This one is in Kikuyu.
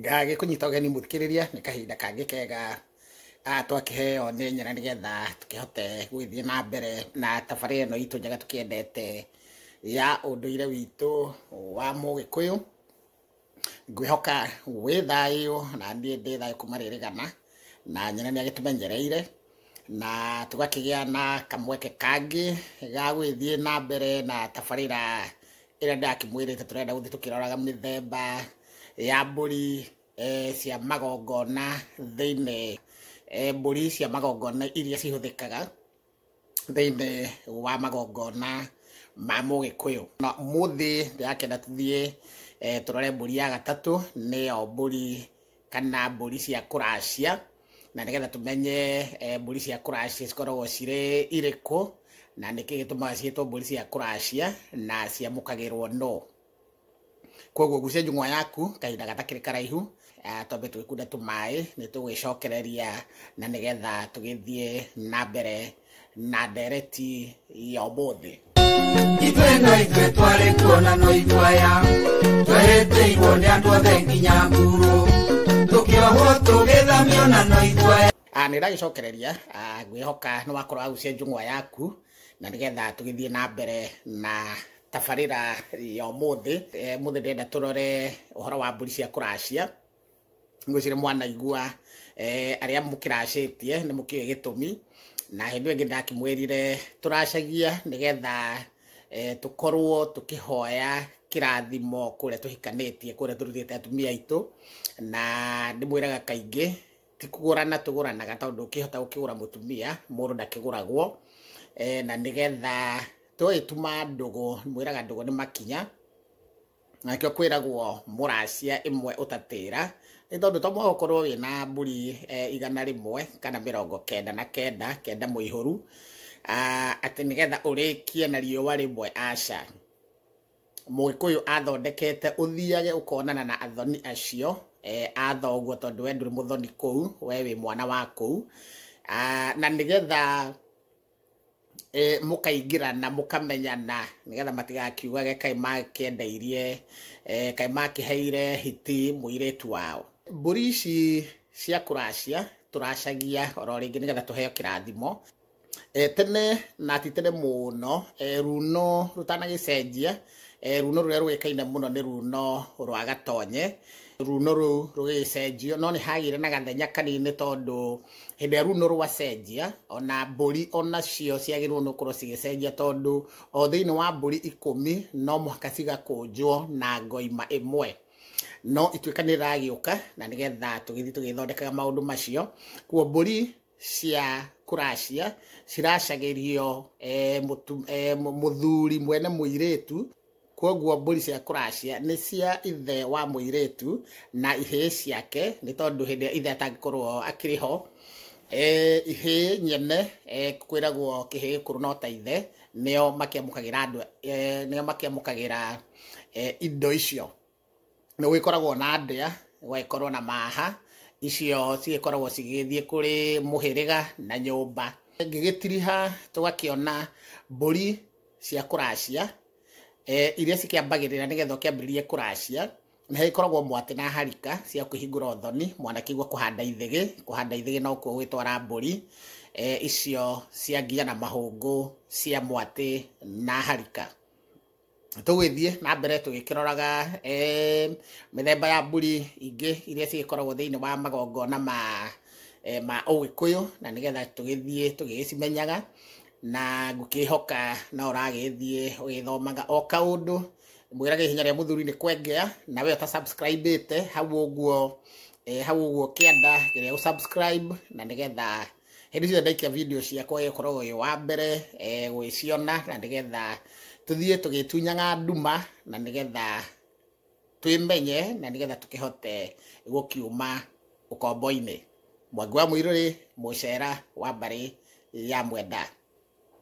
ngagä kå nyita å geni må thikä rä ria nä kahinda kangä kega ah, twakĩheo nĩ nyina nĩ getha tũkĩhote gũgĩthiĩ na mbere na tabarä ĩno itũ njega tũkĩendete ya ũndũire witũ wa mũgĩkũyũ ngwĩhoka wĩ thayũ na niĩ ndĩ thayũ kuma rĩrĩgana na nyina nĩ agĩtũmenyereire na tũgakĩgĩa na kamweke kangĩ ga gũgĩthiĩ na mbere na tabarĩra ĩrĩa ndakĩmwĩrĩte tũrenda gũthiĩ tũkĩroraga mĩthemba ya mbũri eh, cia magongona thĩinĩ eh, mbũri cia magongona iria cihũthĩkaga thĩinĩ wa magongona ma mũgĩkũyũ na mũthĩ ndĩrakenda tũthiĩ eh, tũrore mbũri ya gatatũ nĩyo mbũri kana mbũri cia kũracia, na nĩgetha tũmenye eh, mbũri cia kũracia cikoragwo cirĩ irĩkũ, na nĩkĩ gĩtũmaga ciĩtwo mbũri cia kũracia na ciamũkagĩrwo no. Koguo gucia njung'wa yaku kahinda gatakĩrĩ karaihu, eh, twambe twĩkunde tũmaĩ, nĩ tũgwĩcokereria na nĩgetha tũgĩthiĩ na mbere na ndereti ya ũmũthĩ itwe no itwe twarĩ kuona no itwaya twehete igwo nĩ andũ othe nginya nguru tũkĩohwo tũgĩthamio na no itwaya Ah, nä ndagäcokereria ngwä hoka nä wakorwo agucia njång'wa yaku na nä getha tå gä thiä na mbere na tabarä ra ya må thä må thä ndenda tå rore å horo wa mbå ri cia kå racia ngwĩcire mwanaigua eh, arĩa mũkĩracĩtie nĩ mũkĩũĩ gĩtũmi na hĩndĩ ĩyo ĩngĩ ndakĩmwĩrire tũracagia nĩgetha eh, tũkorwo tũkĩhoya kĩrathimo kũrĩa tũhikanĩtie kũrĩa tũrutĩte atumia aitũ na ndĩmwĩraga kaingĩ ti kũgũrana tũgũranaga tondũ ũkĩhota gũkĩgũra mũtumia mũndũ ndakĩgũragwo eh, na nĩgetha tũgĩtuma ndũgũ mwĩraga ndũgũ nĩ makinya nakĩo kwĩragwo mũracia ĩmwe ũtatĩra nĩ tondũ to mũhaka ũkorwo wĩ na mbũri eh, igana rĩmwe kana mĩrongo kenda na kenda kenda mũihũru ah, atĩ nĩgetha ũrĩkie na riũa rĩmwe aca mũgĩkũyũ athondekete ũthiage ũkonana na athoni acio eh, a thoguo tondũ we ndũrĩ mũthoni kũu we wĩ mwana wa kũu Ah, na nĩgetha eh, mũkaingĩrana mũkamenyana nĩgetha matigakiugage kaĩ makĩendeirie eh, kaĩ makĩheire hiti mũirĩtu wao mbũri ici cia kũracia tũracagia oro rĩngĩ nĩgetha tũheo kĩrathimo eh, tene na ti tene mũno eh, runo rũtanagĩcenjia Eh, runo rũrĩa rũgĩkaine mũno nĩ runo rwa gatonye runo rũu rũgĩcenjio no nĩ hagĩire na gathenya kanini tondũ hĩndĩ ĩrĩa runo rwacenjia ona mbũri onacio ciagĩrĩirwo nĩ gũkorwo cigĩcenjia tondũ o thĩinĩ wa mbũri ikũmi no mũhaka cigakũnjwo na ngoima ĩmwe no ituĩka nĩ ragĩũka na nĩgetha tũgĩthiĩ tũgĩthondekaga maũndũ macio kuo mbũri cia kuracia ciracagĩrio eh, mũtu- eh, mũ- mũthuri mwene mũirĩtu kwoguo mbũri cia kuracia nĩ cia ithe wa mũirĩtu na ihĩĩ ciake nĩ tondũ hĩndĩ ĩrĩa ithe atangĩkorwo akĩrĩ ho eh, ihĩĩ nyene eh, kwĩragwo kĩhĩĩ kũrũ no ta ithe nĩo makĩamũkagĩra andũ eh, nĩo makĩamũkagĩra eh, indo icio nĩ gũgĩkoragwo na ndĩa, gũgagĩkorwo na maaha, icio cigĩkoragwo cigĩgĩthiĩ kũrĩ mũhĩrĩga na nyũmba. Ngĩgĩtiriha tũgakĩona mbũri cia kũracia, iria cikĩambagĩrĩra nĩgetha ũkĩambĩrĩrie kũracia, nĩ hagĩkoragwo mwatĩ na harika cia kũhingũra ũthoni, mwana akĩigua kũhanda ithĩgĩ, kũhanda ithĩgĩ no kuo gũgĩtwara mbũri, icio cia ngiya na mahũngũ cia mwatĩ na harika. tũgĩthiĩ na mbere tũgĩkĩroraga eh, mĩthemba ya mbũri ingĩ iria cigĩkoragwo thĩinĩ wa magongona ma eh, ma ũgĩkũyũ na nĩgetha tũgĩthiĩ tũgĩgĩcimenyaga na ngũkĩhoka no ũragĩthiĩ ũgĩthomaga o kaũndũ mwĩrage ihinya rĩa mũthuri nĩ kwengea na we ũta subscribe ĩte hau ũguo eh, hau ũguo kĩanda kĩrĩa gũ subscribe na nĩgetha hĩndĩ ciothe ndaikia video ciakwa ũyũ ũkoragwo ũyũ wa mbere eh, gwĩciona na nĩgetha tũthiĩ tũgĩtunyaga nduma na nĩgetha twĩmenye na nĩgetha tũkĩhote gũkiuma ũkombo-inĩ mwangi wa mũirũrĩ mũcera wa mbarĩ ya mwenda